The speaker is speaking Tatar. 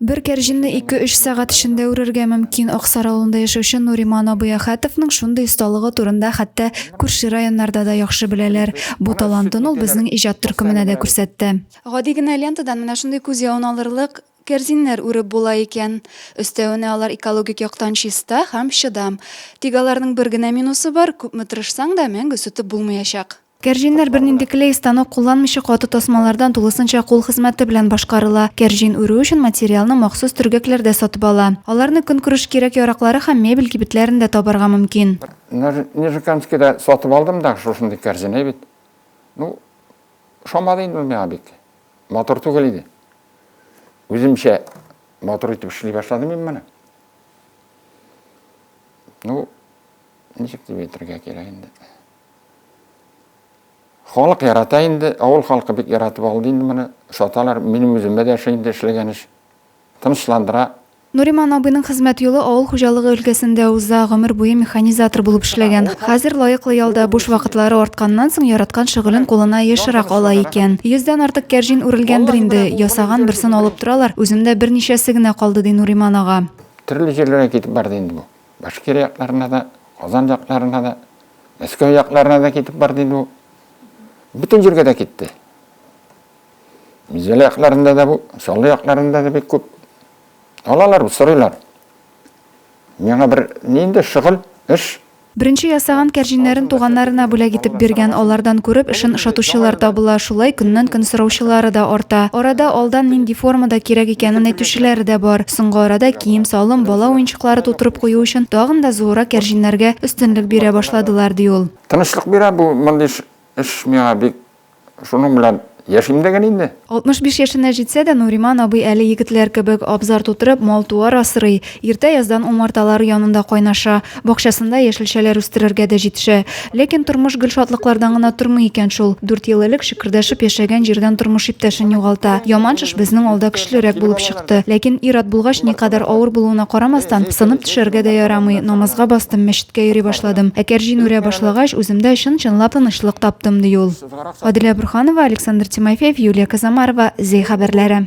Бер кәрҗинне ике-өч сәгать эчендә үрергә мөмкин. Аксар авылында яшәүче Нуриман абый Әхәтовның шундый осталыгы турында хәтта күрше районнарда да яхшы беләләр. Бу талантын ул безнең иҗат төркеменә дә күрсәтте. Гади генә лентадан менә шундый күз явын алырлык кәрзиннәр үреп була икән. Өстәвенә алар экологик яктан чиста һәм чыдам. Тик аларның бер генә минусы бар, күпме тырышсаң да, мәңге сүтеп булмыячак. Кәрҗиннәр бернинди клей, станок кулланмыйча каты тасмалардан тулысынча кул хезмәте белән башкарыла. Кәрҗин үрү өчен материалны махсус төргәкләрдә сатып ала. Аларны көнкүреш кирәк-яраклары һәм мебель кибетләрендә табарга мөмкин. Нижекамскида сатып алдым да шушындый кәрҗин әйбит. Ну, ошамады инде ул миңа бик. Матур түгел иде. Үземчә матур итеп эшли башладым мин моны. Ну, ничек дип әйтергә кирәк инде. Халык ярата инде, авыл халкы бик яратып алды инде моны, саталар, минем үземә дә ошый инде эшләгән эш. Тынычландыра. Нуриман абыйның хезмәт юлы авыл хуҗалыгы өлкәсендә уза, гомер буе механизатор булып эшләгән. Хәзер лаеклы ялда буш вакытлары артканнан соң яраткан шөгылен кулына ешрак ала икән. Йөздән артык кәрҗин үрелгәндер инде, ясаган берсен алып торалар, үземдә берничәсе генә калды, ди Нуриман ага. Төрле җирләргә китеп барды инде бу. Башкирия якларына да, Казан якларына да, Мәскәү якларына да китеп барды инде бу. Бөтен җиргә дә китте. Мизәлә якларында да бу, Чаллы якларында да бик күп. Алалар, сорыйлар. Миңа бер нинди шөгыль, эш Беренче ясаган кәрҗиннәрен туганнарына бүләк итеп биргән, алардан күреп эшен ошатучылар табыла, шулай көннән-көн сораучылары да арта. Арада алдан нинди формада кирәк икәнен әйтүчеләре дә бар. Соңгы арада кием-салым, бала уенчыклары Клары тутырып кую өчен тагын да зуррак кәрҗиннәргә өстенлек бирә башладылар, ди ул. Тынычлык бирә бу мондый эш миңа бик. Шуның белән яшим дә гел инде. 65 яшенә җитсә дә, Нуриман абый әле егетләр кебек абзар тутырып, мал-туар асрый, иртә яздан умарталары янында кайнаша, бакчасында яшелчәләр үстерергә дә җитешә. Ләкин тормыш гел шатлыклардан гына тормый икән шул. Дүрт ел элек чыкырдашып яшәгән җирдән тормыш иптәшен югалта. Яман шеш безнең алда көчлерәк булып чыкты. Ләкин ир-ат булгач, никадәр авыр булуына карамастан, сынып төшәргә дә ярамый. Намазга бастым, мәчеткә йөри башладым. Ә кәрҗин үрә башлагач, үземдә чын-чынлап тынычлык таптым, ди ул. Аделя Борһанова, Александр Тимофеев, Юлия Казамарова, Зәй хәбәрләре.